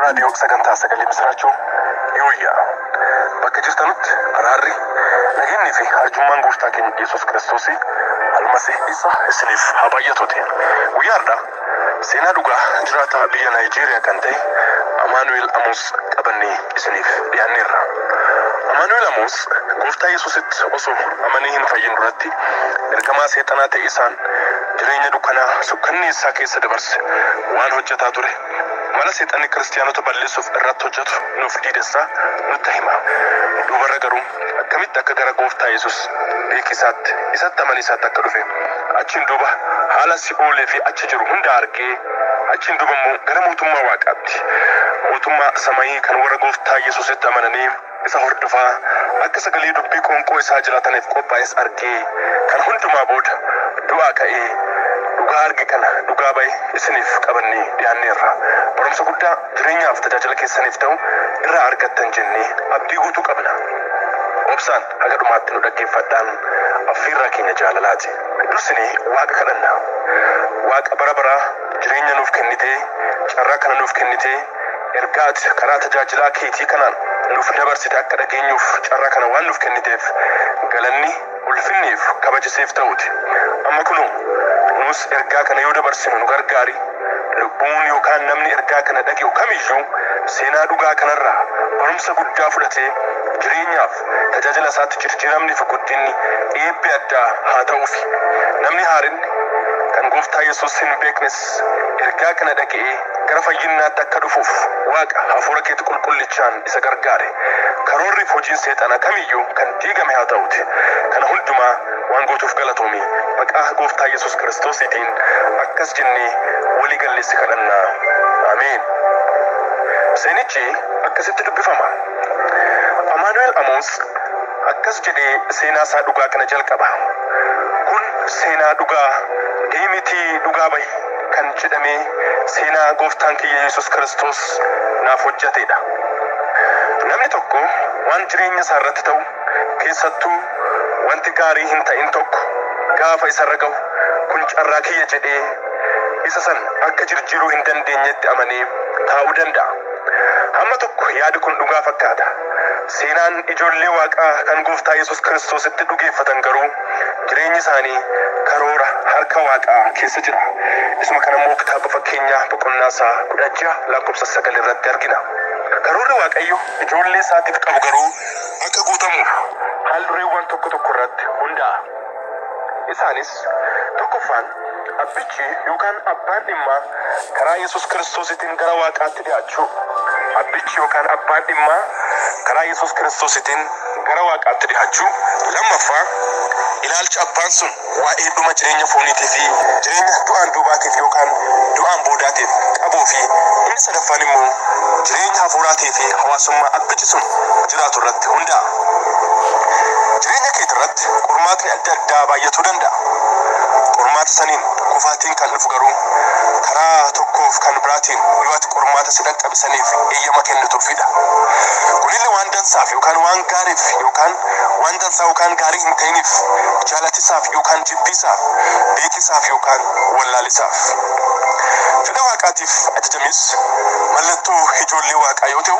Raadiyoo sagantaa sagalee misiraachoo yooyyaa bakka jirtanutti araarri nageenyii fi arjummaan gooftaa keenya Yesuus Kiristoosii almasii isa isiniif haa baay'atuuti. Guyyaa har'aa seenaa dhugaa jiraataa biyya Naayijeeriyaa kan ta'e Amaanu'eel Amoos qabannee isiniif dhiyaanneerra. Amaanu'eel Amoos gooftaa Yesuusitti osoo amanee hin fayyin duratti ergamaa seexanaa ta'e isaan Jireenya dukkanaa sukkanneessaa keessa dabarse waan hojjetaa ture, mala Seexanni Kiristiyaanota balleessuuf irratti hojjetu nuuf diidessaa nutti hima. Duubarra garuu, akkamitti akka gara Gooftaa Yesus, Beeki Isaatti, Isatti amani Isaatti akka dhufe, achiin duuba haala si'oolii fi achi jiru hunda argee, achiin duuba immoo gara Mootummaa Waaqaatti, Mootummaa Samayii kan warra Gooftaa Yesusitti amananii, Isa hordofaa, akka sagalee dubbii qoonqoo isaa jiraataniif qophaa'es argee, kana hundumaa booda du'aa ka'ee, dhugaa arge kana dhugaa ba'e isiniif qabannee dhiyaanneerra. Barumsa guddaa jireenyaaf tajaajila keessaniif ta'u irraa argattan jennee abdii guutuu qabna. Obsaan haga dhumaatti nu dhaggeeffadhaan affiirraa keenya jaalalaati. Dursinee Waaqa kadhanna. Waaqa bara baraa jireenya nuuf kennitee, carraa kana nuuf kennitee, Ergaa ati karaa tajaajilaa keetii kanaan nuuf dabarsite akka dhageenyuuf carraa kana waan nuuf kenniteef galanni, ulfinnii fi kabaji siif ta'uuti. Amma kunoo, nus ergaa kana yoo dabarsinu nu gargaari. Lubbuun yookaan namni ergaa kana dhage'u kam iyyuu seenaa dhugaa kana irraa barumsa guddaa fudhatee jireenyaa fi tajaajila isaatti jirjiiramni fi guddinni, eebbi addaa haa ta'uufi. Namni haarinni, kan Gooftaa Yesuus hin beeknes, Yesuus ergaa kana dhaga'ee gara fayyinnaatti akka dhufuuf Waaqa hafuura keetti qulqullichaan isa gargaare. Karoorri fi hojiin seexanaa kamiyyuu kan diigame haa ta'uuti. Kana hundumaa waan gootuuf galatoomi. Maqaa Gooftaa Yesuus Kiristoosiitiin akkas jennee walii gallee si kadhanna. Ameen. Seenichi akkasitti dubbifama. Amaanu'eel Amoos Akkas jedhee seenaa isaa dhugaa kana jalqaba, Kun seenaa dhugaa, deemitii dhugaa bahi kan jedhame seenaa Gooftaan kiyya Yesus Kiristoos naaf hojjatee dha. Namni tokko waan jireenya isaa irratti ta'u, keessattuu wanti gaarii hin ta'in tokko gaafa isa irra gahu, kun carraa kiyya jedhee isa san akka jirjiiruu hin dandeenyetti amanee taa'uu danda'a. Hamma tokko yaadi kun dhugaa fakkaata. Seenaan ijoollee Waaqaa kan Gooftaa Yesus Kiristoositti dhugeeffatan garuu jireenyi isaanii karoora harka Waaqaa keessa jira. Isuma kana immoo kitaaba Fakkeenyaa boqonnaa isaa 16 lakkoofsa 9 irratti argina. Karoorri Waaqayyo ijoollee isaatiif qabu garuu akka guutamuuf haal-dureewwan tokko tokko irratti hundaa'a. Isaanis, tokkoffaan, Abbichi yookaan abbaan dhimmaa karaa Yesus Kiristoositiin gara Waaqaatti dhi'aachuu. Abbichi yookaan abbaan dhimmaa karaa Yesus Kiristoositiin gara Waaqaatti dhi'aachuu. 2ffaa Ilaalcha abbaan sun waa'ee dhuma jireenya fooniitii fi jireenya du'aan duubaatiif yookaan du'aan boodaatiif qabuu fi inni 3ffaan immoo jireenya hafuuraatii fi hawaasummaa abbichi sun jiraatu irratti hundaa'a. Jireenya keetirratti. Qormaatni adda addaa baay'atuu danda'a. Qormaata saniin kufaatiin kan dhufu garuu karaa tokkoof kan biraatiin yoo ati qormaata si dhaqqabe saniif eeyyama kennituufidha. Kunillee waan dansaaf yookaan waan gaariif yookaan waan dansaa yookaan gaarii hin ta'iniif jaalatisaaf yookaan jibbiisaaf beekisaaf yookaan wallaalisaaf. Fedha waaqaatiif ajajamis mallattoo ijoollee waaqaa yoo ta'u,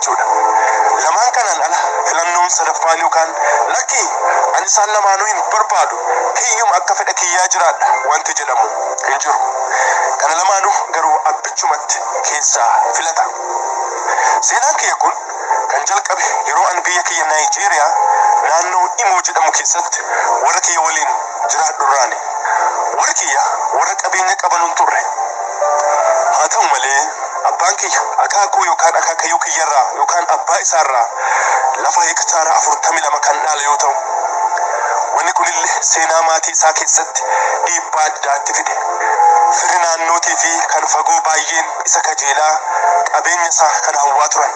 jechuudha. Lamaan kanaan ala filannoon sadaffaan yookaan lakki ani isaan lamaanuu hin barbaadu kiyyuma akka fedha kiyyaa jiraadha wanti jedhamu hin jiru. Kana lamaanuu garuu abbichumatti keessaa filata. Seenaan kiyya kun kan jalqabe yeroo ani biyya kiyya Naayijeeriyaa naannoo Imoo jedhamu keessatti warra kiyya waliin jiraadhu irraani. Warri kiyya warra qabeenya qaban hin turre. Haa ta'u malee Abbaan kiyya akaakuu yookaan akaakayyuu kiyyarraa yookaan abbaa isaarraa lafa heektaara 42 kan dhaale yoo ta'u, wanni kunillee seenaa maatii isaa keessatti dhiibbaa addaa itti fide. Firri naannootii fi kan fagoo baayyeen isa kajeelaa qabeenya isaa kana hawwaa turan.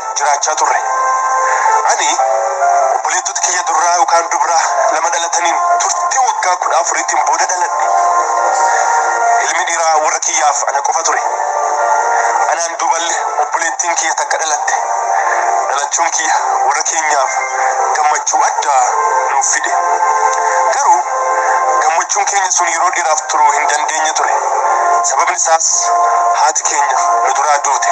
jiraachaa turre. Ani obboleettota kiyya durraa yookaan dubraa lama dhalataniin turtii waggaa kudha afuriitiin booda dhaladhe. Ilmi dhiiraa warra kiyyaaf ana qofa ture. Anaan duuballe obboleettiin kiyya takka dhalatte. Dhalachuun kiyya warra keenyaaf gammachuu addaa nuuf fide. Garuu gammachuun keenya sun yeroo dheeraaf turuu hin dandeenye ture. Sababni isaas haati keenya nu duraa duute.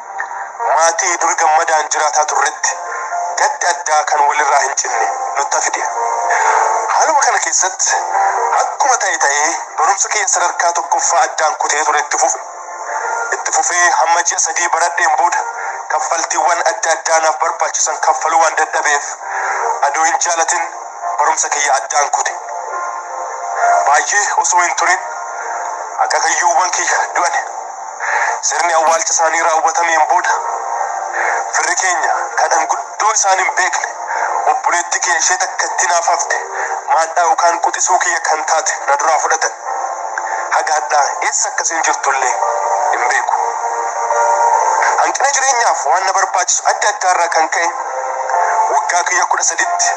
Maatii dur gammadaan jiraataa turretti gaddi addaa kan walirraa hin cinne nutta fide. Haaluma kana keessatti akkuma ta'e ta'ee barumsa kiyya sadarkaa tokkoffaa addaan kutee ture itti fufe. Itti fufee hamma ji'a sadii baradheen booda kaffaltiiwwan adda addaa naaf barbaachisan kaffaluu waan dadhabeef adoo hin jaalatin barumsa kiyya addaan kute. Baay'ee osoo hin turin akaakayyuuwwan kiyya du'an. Sirni awwaalcha isaanii raawwatameen booda firri keenya kan an guddoo isaan hin beekne obboleettii kiyya ishee takkattii naaf hafte maadhaa yookaan quxisuu kiyya kan taate na duraa fudhatan. Haga hadhaa eessa akka isiin jirtu illee hin beeku. Hanqina jireenyaaf waan na barbaachisu adda addaa irraa kan ka'e waggaa kiyya kudha saditti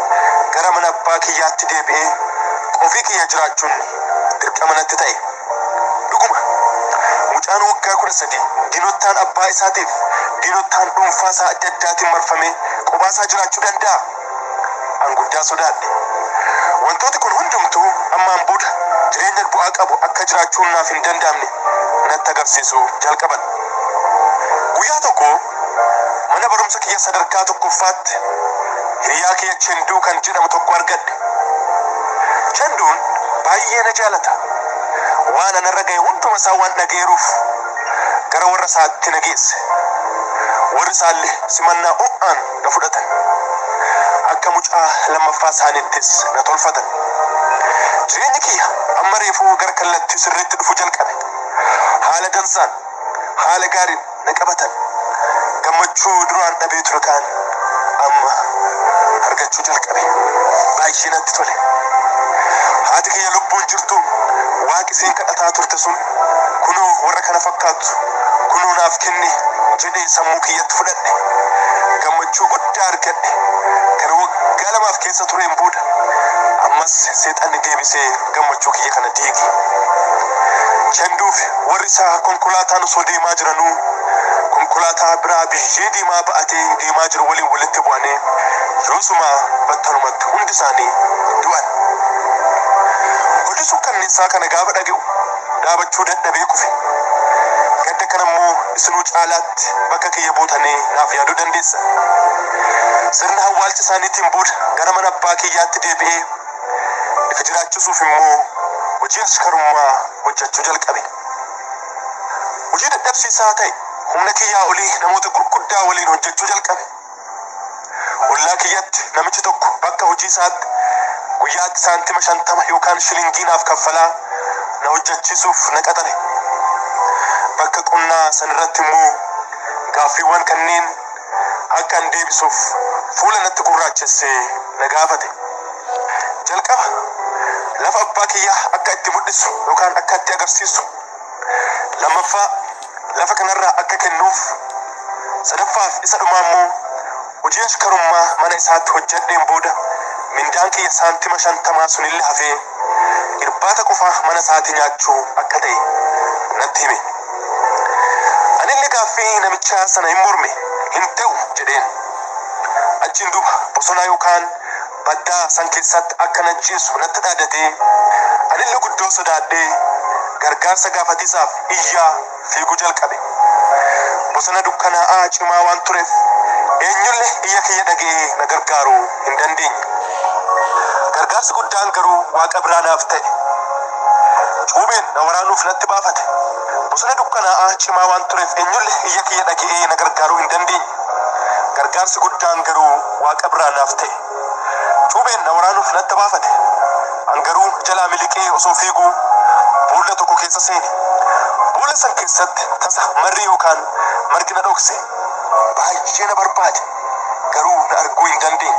gara mana abbaa kiyyaatti deebi'ee qofii kiyya jiraachuun dirqama natti ta'e. Dhuguma, mucaan waggaa 13 diinottaan abbaa isaatiif diinottaan dhuunfaa isaa adda addaatiin marfamee qobaa isaa jiraachuu danda'aa? An guddaa sodaadhe. Wantooti kun hundumtuu ammaan booda jireenya bu'aa qabu akka jiraachuun naaf hin danda'amne natti agarsiisuu jalqaban. Guyyaa tokko, Mana barumsa kiyya sadarkaa tokkoffaatti hiriyaa kiyya Chenduu kan jedhamu tokko argadhe. Chenduun baay'ee na jaalata. Waan ana irra gahe hunduma isaa waan dhagayeeruuf gara warra isaatti na geesse. Warri isaalle simannaa ho'aan na fudhatan. Akka mucaa lammaffaa isaaniittis na tolfatan. Jireenyi kiyya amma reefuu gara kallattii sirriitti dhufu jalqabe. Haala dansaan, haala gaariin. na qabatan. Gammachuu duraan dhabee ture kaan amma argachuu jalqabe. Baay'ee natti tole. Haati kiyya lubbuun jirtu Waaqi isiin kadhataa turte sun kunoo warra kana fakkaattu kunoo naaf kenne jedhee sammuu kiyyatti fudhadhe. Gammachuu guddaa argadhe. Kana waggaa lamaaf keessa tureen booda ammas seexanni deebisee gammachuu kiyya kana diige. Chenduuf. Warri isaa konkolaataan osoo deemaa jiranuu konkolaataa biraa biyyee diimaa ba'atee deemaa jiru waliin walitti bu'anii yoosuma battalumatti hundi isaanii du'an. Oduu sukkanneessaa kana gaafa dhaga'u dhaabachuu dadhabee kufe. Gadda kana immoo isinuu caalaatti bakka kiyya buutanii naaf yaaduu dandeessan. Sirna awwaalcha isaaniitiin booda gara mana abbaa kiyyaatti deebi'ee Isa jiraachisuuf immoo hojii ashkarummaa hojjechuu jalqabe. Hojii dadhabsiisaa ta'e humna kiyyaa olii namoota gurguddaa waliin hojjechuu jalqabe. Ollaa kiyyatti namichi tokko bakka hojii isaatti guyyaatti saantima shantama yookaan shilingii naaf kaffalaa na hojjechiisuuf na qaxare. Bakka qonnaa sanirratti immoo gaaffiiwwan kanneen akka an deebisuuf fuula natti gurraachessee na gaafate. Jalqaba lafa abbaa kiyyaa akka itti mul'isu yookaan akka itti agarsiisu. Lammaffaa lafa kanarraa akka kennuuf. Sadaffaaf isa dhumaa immoo hojii ashkarummaa mana isaatti hojjedheen booda mindaan kiyya saantima shantamaa sunillee hafee irbaata qofaa mana isaatii nyaachuu akka ta'e natti hime. Anillee gaaffii namichaa sana hin morme, hin ta'u jedheen. Achiin duuba bosonaa yookaan baddaa san keessaatti akka na ajjeessu natti dhaadatee, anille guddoo sodaadhee gargaarsa gaafatiisaaf iyyaa fiiguu jalqabe. Bosona dukkanaa'aa cimaa waan tureef eenyulle iyya kiyya dhage'ee na gargaaruu hin dandeenye. Gargaarsi guddaan garuu Waaqa biraa naaf ta'e. Cuubeen na waraanuuf natti baafate. Bosona dukkanaa'aa cimaa waan tureef eenyulle iyya kiyya dhage'ee na gargaaruu hin dandeenye. Gargaarsi guddaan garuu. Waaqa biraa naaf ta'e. Cuubeen na waraanuuf na adda baafate. An garuu jalaa miliqee osoo fiiguu boolla tokko keessa seene. Boolla san keessatti tasa marri yookaan margi na dhokse. Baay'ee na barbaade, garuu na arguu hin dandeenye.